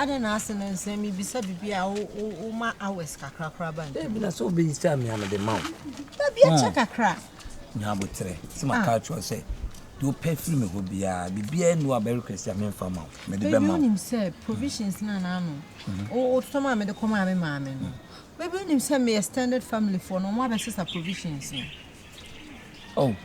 Adɛn na ase no nsɛm yi bisa biribi a woma hours kakra koraa ba ntam? Ebi na sɛ obi sɛ amea no de ma wo. Dabi akyɛ hmm. kakra. Nya abotrɛ. Sɛ ma ah. ka kyerɛ sɛ deɛ wopɛ firi me hɔ biara biribiara nu a bɛrekrɛ sɛ memfa ma wo mede bɛma wo. Wonim sɛ provisions no anaano wototɔ ma mede kɔmaa me maame no Baby wo nim sɛ me extended family foɔ no ɔmo abɛ sesa provisions no. Oh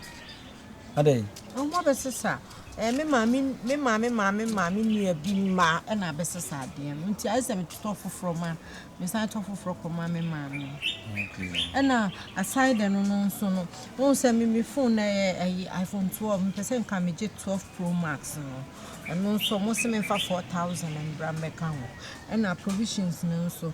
adɛn. Ɔmo abɛ sesa ɛɛ me maame me maame maame maame nua bi mma ɛna abɛ sesa adeɛ no nti ayɛ sɛ me tɔ foforɔ ma me san tɔ foforɔ kɔ ma me maame. Okay. Ɛna aside ɛno no nso no wɔn sɛ me me phone na yɛ ɛyi iPhone 12 me pɛ sɛ nka me gye 12 pro max no ɛno nso wɔn sɛ me nfa 4000 mbra mbɛka ho ɛna provisions no nso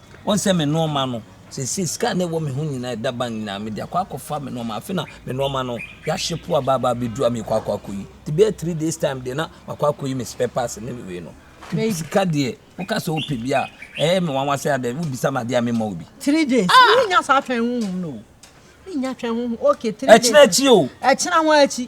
Wɔn sɛ me nnoɔma no. Seesei sika a na ɛwɔ me ho nyinaa, ɛda bank nyinaa, mede akɔ akɔfa me nnoɔma. Afei na me nnoɔma no, hweahye po aba aba abɛduru a merekɔ akɔ akɔyi. Nti bɛyɛ three days time deɛ na makɔ akɔyi me spare parts ne me wei no. Nti sika deɛ, woka sɛ wopɛ bi a, ɛyɛ me nwanwa sɛ adɛn, wobisa me adeɛ a memmɔ wo bi. Three days, mennya saa twɛn honhom no o. Mennya twɛn honhom, okay three days. Ɛkyena akyi o. Ɛkyena ho ara akyi.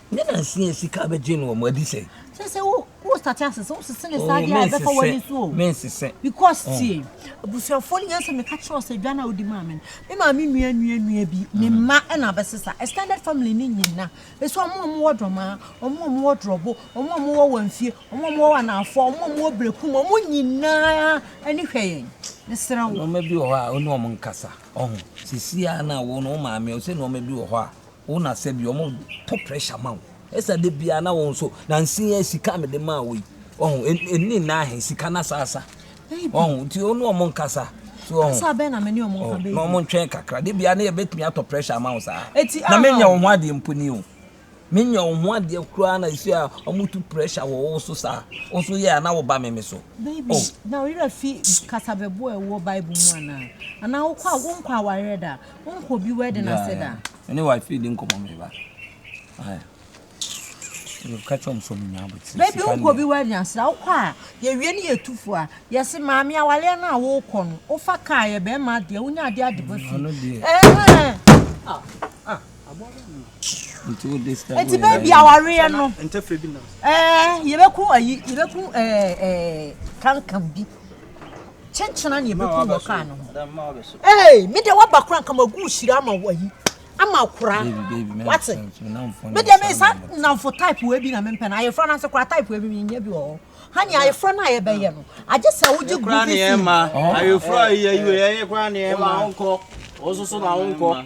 Ne nanse yɛ sika bɛgye no wɔ mo adi sɛn. Kyerɛ sɛ wo wo sate ase sɛ wosese ne saa deɛ a ɛbɛfa w'ani so o. Mensesɛ. Because tie abusuafoɔ no yɛn sɛ meka kyerɛ wo sɛ dwa no a wodi maa me no me maame nua nua nua bi ne mma ɛna abɛsesa extended family ne nyina ɛsɛ ɔmo a ɔmo wɔ dɔmaa ɔmo a ɔmo wɔ drɔbo ɔmo a ɔmo wɔ wanfie ɔmo a ɔmo wɔ anaafoɔ ɔmo a ɔmo wɔ brekum ɔmo nyinaa ani hwɛ yɛn mesrɛ wo. Nneɛma bi wɔ hɔ a wo ne ɔmo nkasa ɔho sisi a na wo no wo maame ɔsɛ nneɛma bi wɔ hɔ a Wo na sɛ bi wɔn to pressure ma wo ɛsa de bia na wɔn so na nsi yɛ sika me de maa wo yi wɔn ɛni na ahɛ sika na saasa wɔn nti wɔn wɔn nkasa so wɔn kasa bɛn na me ne wɔn nka bɛyi na wɔn ntwɛn kakra de bia na yɛ bɛtumi atɔ pressure ma wo saa na me nya wɔn ho adeɛ mpo ni o me nya wɔn ho adeɛ koraa na esi a wɔn tu pressure wɔ wɔn so saa wɔn so yɛ a na wɔba me me so. Baby oh. na ɔyerɛ fi kasabɛboɔ ɛwɔ bible mu anaa anaa wɔkɔ a wɔn kɔ awareɛ da Wonkɔ bi wedding ase da. Me ne wife di nkɔmɔ me ba. Ka kyerɛ sɛ ɔmo nya abotire. Baabi wonkɔ bi wedding ase da, wokɔ a yɛwie ne yɛtu fo a, yɛse maame awaleɛ no a wokɔ no, wofa kaa yɛ bɛrima adeɛ, wonya adeɛ ade ba fie. Ano deɛ. Ɛhɛn. Ah, ah, aboa bɛ mu. Nti wo dis time. Nti baabi awareɛ no. Ntɛfrɛ bi nam. Ɛɛ, yɛbɛku ayi, yɛbɛku ɛɛ ɛɛ kankan bi. Kyekyena nea ɛbɛkum wɔ kaa no ho. Ee, me deɛ waba kora nka magu hyira ama wayi ama akora. Wate? Me deɛ me sa nnamfo type wɔ ebi na mempɛ no. Ayefra no ase kora type wɔ ebi menyɛ bi wɔ hɔ. Hani ayefra no a yɛbɛyɛ no. Agye sɛ wogye gu bi fi. Ayefra yi ayi wɔ yɛyɛ kora ne ɛma. Wo nso so ma wo nkɔ.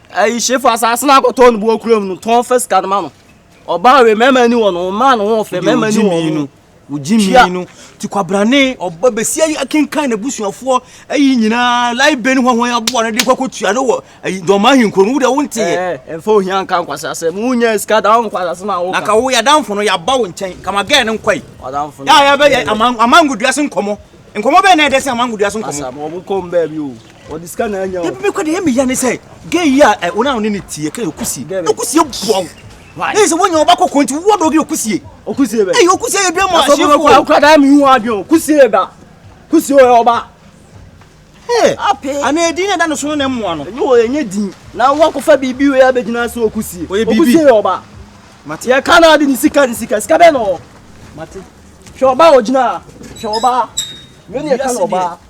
Ayi hyefo asase no akɔtɔ no bo okuram no tɔn fa sika no ma no ɔbaa wei mɛma ni wɔ no ɔmaa no ho fɛ mɛma ni wɔ no wogye mii no ti kwabrane ɔba bɛsi ayi akenkan na busuafoɔ ayi nyinaa lai bɛ ne hɔhoɔ yɛ aboa no de kɔkɔ tua no wɔ ayi dɔma ahenkuro no wodɛ wo nteɛ ɛmfa ohia nka nkwasi asɛ mu nyɛ sika da wo nkwasi asɛ ma wo na ka wo yɛ adamfo no yɛaba wo nkyɛn kama gɛɛ no nkɔi yɛ a yɛbɛyɛ amangodua se nkɔmɔ nkɔmɔ bɛɛ na ɛdɛ se amangodua se nkɔmɔ ɔde sika na anya o. ebi kɔ de yɛ mi ya ne sɛ gay yi a wɔn a wɔn ne ne tie kɛ okusie okusie bua o ne sɛ wɔnyɛ ɔba kɔkɔ nti wɔwɔ dɔgye okusie okusie bɛ ɛyɛ okusie yɛ dua mu ahyɛ wɔn kɔ akora daa mi hu adi o kusie yɛ ba kusie yɛ ɔba ee ape ana edin na ɛda ne so no na ɛmoa no ɛnyɛ wɔ ɛnyɛ din na wɔkɔfa biribi wei abɛgyina so okusie ɔyɛ biribi okusie yɛ ɔba mate yɛ ka na adi ne sika ne sika sika bɛ na ɔ mate hwɛ ɔba a ɔgyina hwɛ ɔba wei ne yɛ ka na ɔba.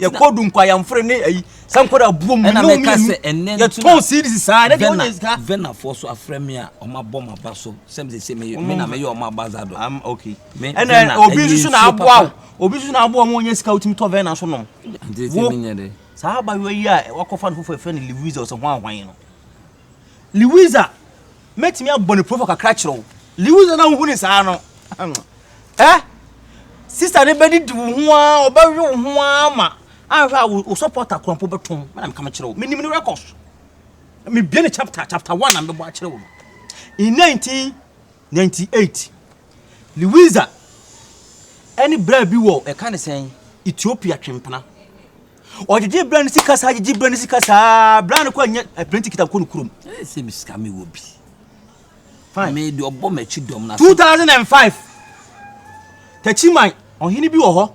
yɛkɔ du nkɔ ayamfere ne ayi sɛ nkɔda buom ne wo mmienu yɛtɔn series saa ne deɛ ɔnyɛ sika venafoɔ so afrɛ me a ɔma bɔ ma ba so sɛ me sɛ me me na meyɛ ɔma ba za do am okay me ɛna obi nso so na aboa wo obi nso na aboa mo ɔnyɛ sika wotumi tɔ vena so nom wo saa abayewa yi a wakɔfa no foforɔ ɛfrɛ no Louise ɔsɛ hwan hwan no Liwiza, mɛtumi abɔ ne profo kakra kyerɛ wo. Liwiza na wohu ne saa no. Ɛ? Sista no bɛdidi wo ho a, ɔbɛwe wo ho a ma ahwɛ a wo sɔpɔta kora mpo bɛtɔn. Mɛna meka mekyerɛ wo. Menim ne rekɔs. Mebie ne chapter, chapter one na mebɛbɔ akyerɛ wo no. In 1998, Liwiza ɛne bra bi wɔ ɛka ne sɛn Ethiopia twempena. Ɔgyegye bra ne sika saa gyegye bra ne sika saa bra ne kɔ nyɛ apirenti kita kɔ ne kurom. Ɛyɛ sɛ mi sika mi wɔ bi. Fine. Mi de ɔbɔ m'akyi dɔm na. 2005 Takyiman ɔhene bi wɔ hɔ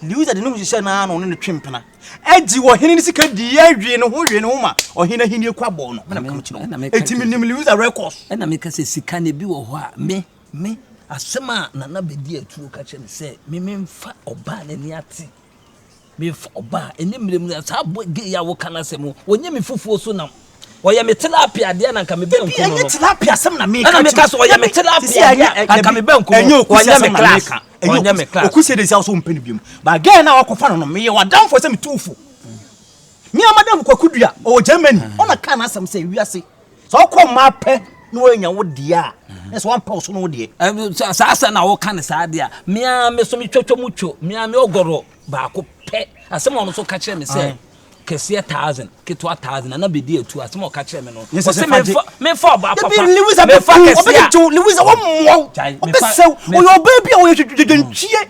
Liusa de ne ho hyehyɛ naa na ɔne ne twe mpena agyi wɔ hene ne sika di yɛ wie ne ho wie ne ho ma ɔhene ahini kɔ abɔ no mena meka kyerɛ wo ɛti me nim Liusa records ɛna meka sɛ sika ne bi wɔ hɔ a me me asɛm a nana bɛdi atuo ka kyerɛ me sɛ me memfa ɔbaa n'ani ate Mefa wo ba a, ɛnyɛ mmerɛm na saa boy gay a woka no asɛm no, ɔnyɛ me fufuo so nam. Ɔyɛ me tilapia deɛ na nka me bɛ nku no no. Ɛnyɛ tilapia asɛm na meka. Ɛna meka so ɔyɛ me tilapia deɛ a nka me bɛ nku no no. Ɔnyɛ me class. Ɔnyɛ me class. Okusi de si aso mpɛ no biom. Ba gay na wakɔfa no no, meyɛ wadanfo sɛ me tu wo fo. Me a madam Kwaku Dua, ɔwɔ Germany, ɔna kaa n'asɛm sɛ wiase. sɛ ɔkɔ mmaa pɛ na wɔanya wo deɛ a na sɛ wampɛ wo so no wo deɛ saa sɛ na woka ne saa deɛ a mea me so metwatwa mu two mea me ɔgɔrɔ baako pɛ asɛm a ɔno so ka kyerɛ me sɛ kɛseɛ thousand ketewa thousand nana bɛdi atu asɛm a ɔka kyerɛ me no ɔsɛ mefa ɔba papa lewis abɛfa kɛseɛ lewis a wɔmmoa wo ɔbɛsɛw ɔyɛ ɔbaa bi a ɔyɛ twetwetwentwie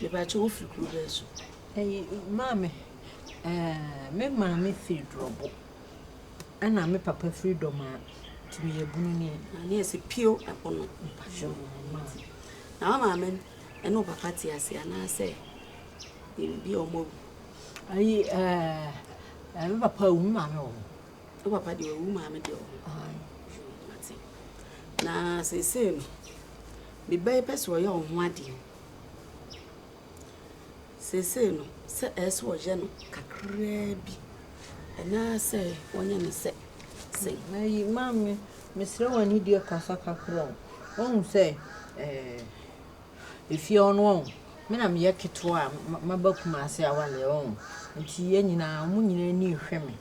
Mepakyɛw wo firi kuro bɛn so? Ɛyi maame ɛɛ me maame firi Dorɔbo ɛna me papa firi Dɔmaa nti meyɛ bunu ni. Na ne yɛ sɛ pio ɛpo no. Mepakyɛw wo maame. Na wo maame ɛne wo papa te ase anaasɛ ebi a wɔn awu? Ayi ɛɛ me papa awu me maame wɔ hɔ. Wo papa deɛ wawu maame deɛ wɔ ho. Mate. Na seesei no, me ba yi pɛ sɛ ɔyɛ wo ho adeɛ. Seesei no, sɛ ɛyɛ sɛ ɔyɛ no kakraa bi, ɛnaa sɛ ɔnyɛ no sɛ sɛn. Na yi maame, mesrɛ w'anidie kasa kakra o. Wohu sɛ ɛɛ. Efie hɔ no wohu, me na meyɛ ketewa a maba Kumasi awaleɛ wohu, nti yɛn nyinaa, wɔn nyinaa ani rehwɛ me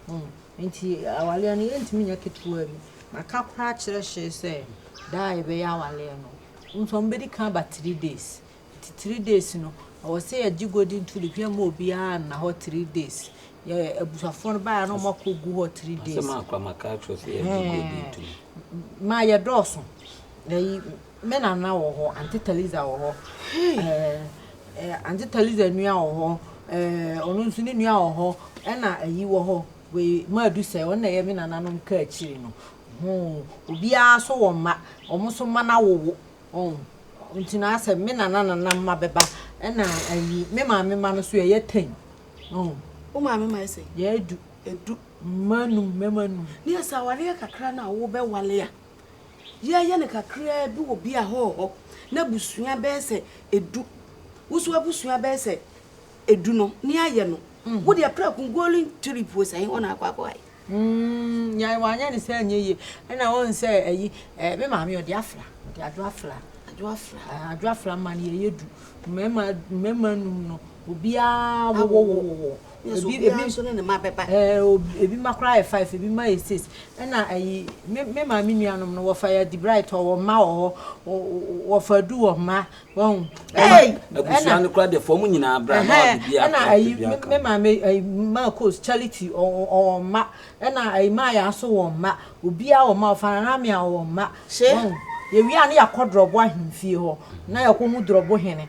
wohu. Nti awaleɛ no yɛntumi nyɛ ketewa bi. Maka koraa akyerɛ Hyee sɛ da a yɛbɛyɛ awaleɛ no, wohu sɛ wɔbɛdi kan aba three days. Nti three days no, ɛwɔ sɛ yɛgye golden tulip, yɛmma obiara nna hɔ three days. Yɛ abusuafoɔ no baeɛ a na wɔakɔgu hɔ three days. Asɛm a akwa maka akyerɛ wo sɛ yɛgye golden tulip. Ɛhɛn, maa yɛdɔɔso. Ɛyi. Me nana wɔ hɔ, Aunty Taliza wɔ hɔ, ɛɛ Aunty Taliza nua wɔ hɔ, ɛɛ ɔno nso ne nua wɔ hɔ, ɛna ayi wɔ hɔ, wei Madu sɛ ɔno na ɛyɛ me nananom kaakyiri no. Hoo, obiara nso wɔ mma, wɔn nso mma no awowo. Ɔn, nti no ara sɛ me nana nana mma bɛba, ɛna ayi me maame mma no nso yɛyɛ ten. Ɔn. Wo maame mma yɛ sɛn? Yɛyɛ du. Edu. Mma num, mmarima num. Ne yɛ sɛ awareɛ kakra no a wobɛwale a. Yɛyɛ no kakraa bi wɔ bia hɔ hɔ na abusua bɛyɛ sɛ edu. Woso abusua bɛyɛ sɛ edu no ne ayɛ no. Mm. Wo deɛ prɛko golden trip wɔ sɛ hɔ na akɔ akɔ ayɛ. Mm, yɛn wanyɛ ne sɛ nyɛ yie. Ɛna wɔn sɛ ɛyi, ɛɛ, me maame ɔde afra, ɔde adwo afra. Adwo afra. Adwo afra ma ne yɛyɛ du. Mmarima, mmarima num no, obiara wɔwɔ wɔwɔ. Nso ebi ebi nso ne ne mma bɛba. Ɛɛ ebi mma koraa yɛ five ebi mma yɛ six ɛna ɛyi me me maame nuanom no wɔfa yɛ adibra ɛtɔ wɔn mma wɔ hɔ wɔfa adu wɔn mma wɔn. Ɛyi abusua no koraa deɛ fɔm nyinaa bra na ɔde bi akora ɛna ɛyi me maame ɛyi maa coach charity ɔwɔ mma ɛna ɛyi maa yɛ aso wɔn mma obiara wɔn mma ɔfa nana mi a wɔn mma wɔn yɛwia ne yɛakɔ dɔrɔbo ahemfie hɔ na yɛkɔ hu dɔrɔbo hene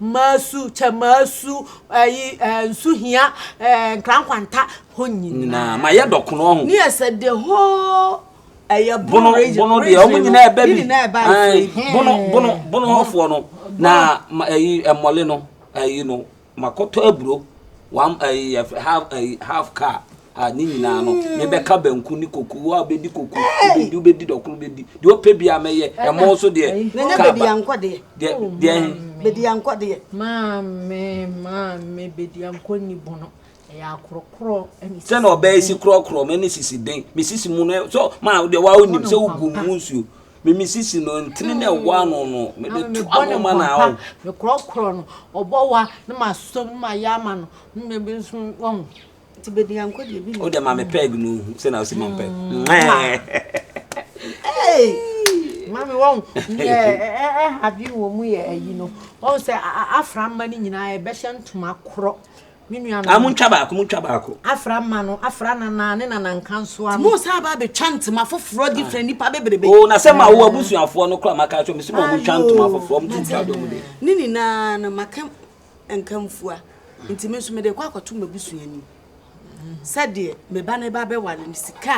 Maasu, kyɛ maasu ayi ɛɛ nsu hia ɛɛ nkrankwanta hɔ nyinaa. Nyinaa ma yɛ dɔ kono ho. Ne yɛ sɛ de hɔ ɛyɛ bono region. Bono bono deɛ wɔn nyinaa ɛbɛ bi. Ne nyinaa ɛbɛ ayi. Bono bono bono hɔfoɔ no na ɛyi ɛmɔle no ɛyi no makɔtɔ aburo one ɛyi half ɛyi half car. a ne nyinaa no mebɛka banku ne koko wo a wobɛdi koko wobɛdi wobɛdi dɔkoro wobɛdi deɛ ɔpɛ bi a mɛyɛ ɛmo so deɛ ka ba deɛ deɛ he bɛdiankɔ deɛ maame maame bɛdiankɔ ni bono ɛyɛ akorɔkorɔ sɛ na ɔbɛyɛ si korɔkorɔ mɛ ne sisi den me sisi mu no so maa deɛ wa wonim sɛ wogu mu nsuo mimi sisi no ntini na ɛwɔ ano no mede to ano ma na awo mekorɔkorɔ no ɔbɔ wa ne ma som ne ma yɛ ama no ne mɛbi nso wɔn nti bɛdi anko deɛ bi wode ma me pɛg no hu sɛ na wosi ma mpɛ mame wɔn ɛhade wɔ mu yɛ ayi no wɔn sɛ afra mma no nyinaa ɛbɛhyɛ ntoma korɔ me nua no montwa baako montwa baako afra mma no afra nana ne nana nkansoa no mo sɛ aba bɛtwa ntoma foforɔ ah. different nipa bebrebe o oh, na sɛ ma wo abusuafoɔ no kora maka kyɛ me sɛ ma ɔmotwa ntoma foforɔ ɔmotwa dɔm de ne nyinaa no maka nkamfua nti me nso mede rekɔ akɔto m'abusua anim sɛdeɛ me ba no ba bɛware no sika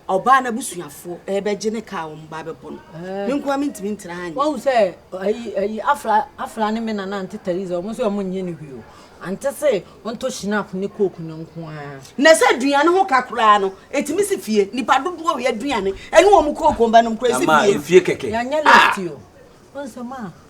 a ɔbaa n'abusuafoɔ ɛbɛgye ne kaa wɔn ba bɛbɔ no eh. me nkoa mentumi ntena ha nyɛ wahu sɛ ayi ayi afra afra ne me nana ante theresa wɔn nso wɔn nyɛ ne hwee o ante se ɔntɔ shinap ne coke no nko ara na sɛ aduane ho ka koraa no ɛtumi si fie nipa dodoɔ wei aduane ɛne wɔn coke wɔn ba nom koraa ɛsi fie fie kɛkɛ yɛanyɛ lɛfti o ɔnsɛm a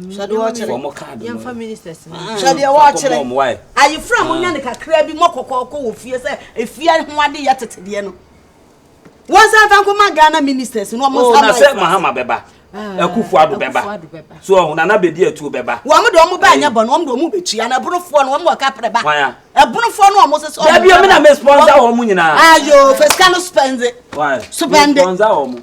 hwɛ deɛ ɔkyerɛ wɔn kaado no yɛmfa ministers no hwɛ deɛ wɔkyerɛ ayefra mo nya ne kakra bi mɔ kɔkɔɔkɔ wɔ fie sɛ efie ho ade yɛ tete deɛ no wɔn san fa nkɔma ghana ministers no wɔn nsa ma sɛ mahama bɛba akufo ado bɛba so ɔho nana bɛdi atuo bɛba wɔn de wɔn ba nyɛ bɔ no wɔn de wɔn bɛtua na ɛbonofoɔ no wɔn wɔ kaprɛ ba ɛbonofoɔ no wɔn sɛ sɛ wɔn dabi ɛmi na mɛ sponsor wɔn nyinaa ayo fɛsika no spɛndi spɛndi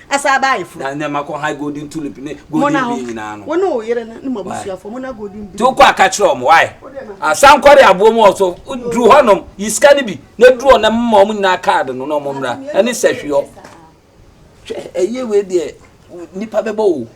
Ɛsan baa ayeforo. Na nneɛma kɔ high golden tulip ne golden bee nyinaa no. Mo ne wo yere ne mo abusuafoɔ mo na golden bee. Ti wokɔ a ka kyerɛ wɔn why. Asan kɔre aboɔ mu ɔso duru hɔ nom yi sika no bi na duru hɔ na mma wɔn nyinaa card no na wɔn mmra ɛne sɛhwiɔ. Hwɛ ɛyɛ wei deɛ nipa bɛbɔ o.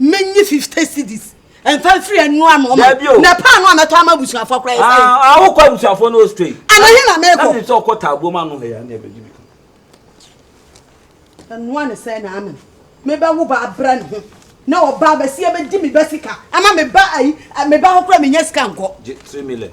menyi fifty cedis nfa nfiri ɛnu ano ma na paanu a mɛtɔ ama abusuafo kora yɛ fɛ. awokɔ abusuafo no ostrey. anahin na mɛkɔ. ɛna sɛ ɔkɔ taabuo mu ano hɛ ya ne ɛbɛ gyi bi. ɛnua ne sɛ na ama mebɛ wo ba abira ne ho na ɔba abɛsi ɛbɛ di mi ba sika ama me ba ayi me ba hɔ kora me nya sika nkɔ. gye three million.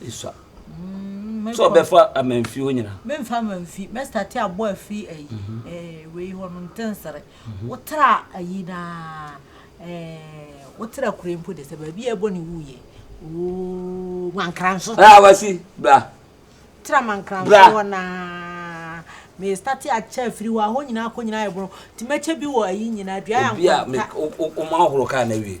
Esua. Sɛ ɔbɛfa amanfi hɔ nyina. Memfa amanfi, mɛ starte abɔ afiri ayi ɛɛ wei hɔ no ntensere. Wotra ayi na ɛɛ wotra akure mpo de sɛ baabi a ɛbɔ ne wu yɛ. Ooo mankranso. Ɛɛ awasi bra. Tra mankranso hɔ na mɛ starte akyɛ afiri hɔ ahɔ nyina akɔ nyina ayɛ bono. Ti mɛkyɛ bi wɔ ayi nyina dua yɛ nkɔnta. Obi a mɛ ɔma ahoro kaa na wie.